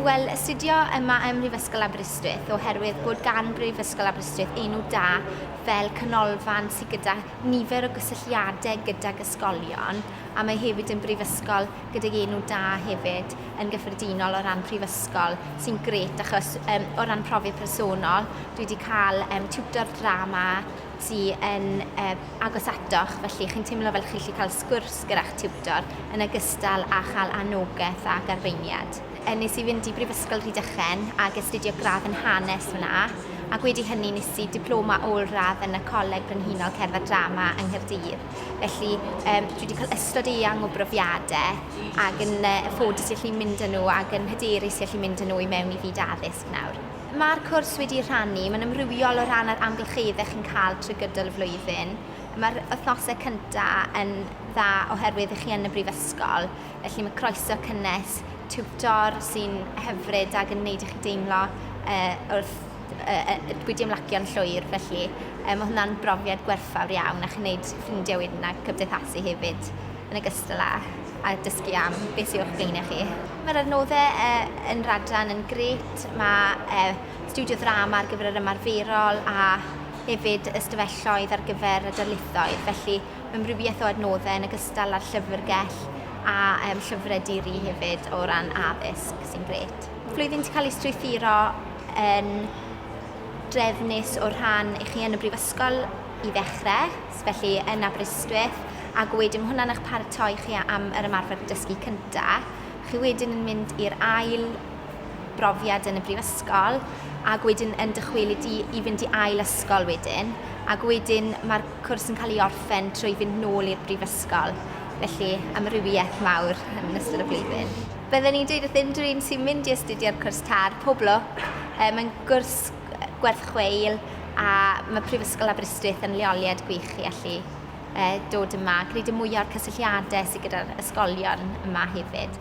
Wel, astudio yma ym Mhrifysgol Aberystwyth oherwydd bod gan Brifysgol Aberystwyth enw da fel canolfan sydd gyda nifer o gysylltiadau gydag ysgolion a mae hefyd yn brifysgol gydag enw da hefyd yn gyffredinol o ran prifysgol sy'n grêt achos yym o ran profiad personol dwi 'di cael yym tiwtor drama sy yn yy agos atoch felly chi'n teimlo fel chi'n gallu cael sgwrs gyda'ch tiwtor yn ogystal â chael annogaeth ac arweiniad. Yy wnes i fynd i Brifysgol Rhydychen ac astudio gradd yn hanes fanna ac wedi hynny wnes i diploma ôl-radd yn y Coleg Brenhinol Cerdd a Drama yng Nghaerdydd. Felly yym dwi 'di cael ystod eang o brofiadau ac yn yy yn ffodus i allu mynd â nhw ac yn hyderus i allu mynd â nhw i mewn i fyd addysg nawr. Mae'r cwrs wedi rhannu, mae'n amrywiol o ran yr amgylcheddau chi'n cael trwy gydol y flwyddyn. Mae'r wythnosau cyntaf yn dda oherwydd 'y chi yn y brifysgol, felly mae croeso cynnes tiwtor sy'n hyfryd ac yn wneud i chi deimlo yy wrth wedi ymlacion llwyr, felly yy ma' hwnna'n brofiad gwerthfawr iawn a chi'n wneud ffrindiau wedyn a cymdeithasu hefyd yn ogystal â â dysgu am beth sy o'ch blaenau chi. Mae'r adnoddau yy yn Rhadran yn grêt, mae yy stiwdio ddrama ar gyfer yr ymarferol a hefyd ystafelloedd ar gyfer y darlithoedd, felly mae amrywiaeth o adnoddau yn ogystal â'r llyfrgell a yym llyfrau di-ri hefyd o ran addysg sy'n grêt. Flwyddyn 'di cael ei strwythuro yn drefnus o rhan i chi yn y Brifysgol i ddechrau, felly yn Aberystwyth, ac wedyn hwnna'n eich paratoi chi am yr ymarfer dysgu cyntaf. Chi wedyn yn mynd i'r ail brofiad yn y Brifysgol, ac wedyn yn dychwelyd i i fynd i ail ysgol wedyn, ac wedyn mae'r cwrs yn cael ei orffen trwy fynd nôl i'r Brifysgol. Felly, amrywiaeth mawr yn ystod y flwyddyn. Bydden i'n dweud wrth unrhyw un sy'n mynd i astudio ar cwrs TAR, pob lwc, mae'n gwrs gwerth chweil a mae Prifysgol Aberystwyth yn leoliad gwych i allu dod yma a gwneud y mwyaf o'r cysylltiadau sydd gyda'r ysgolion yma hefyd.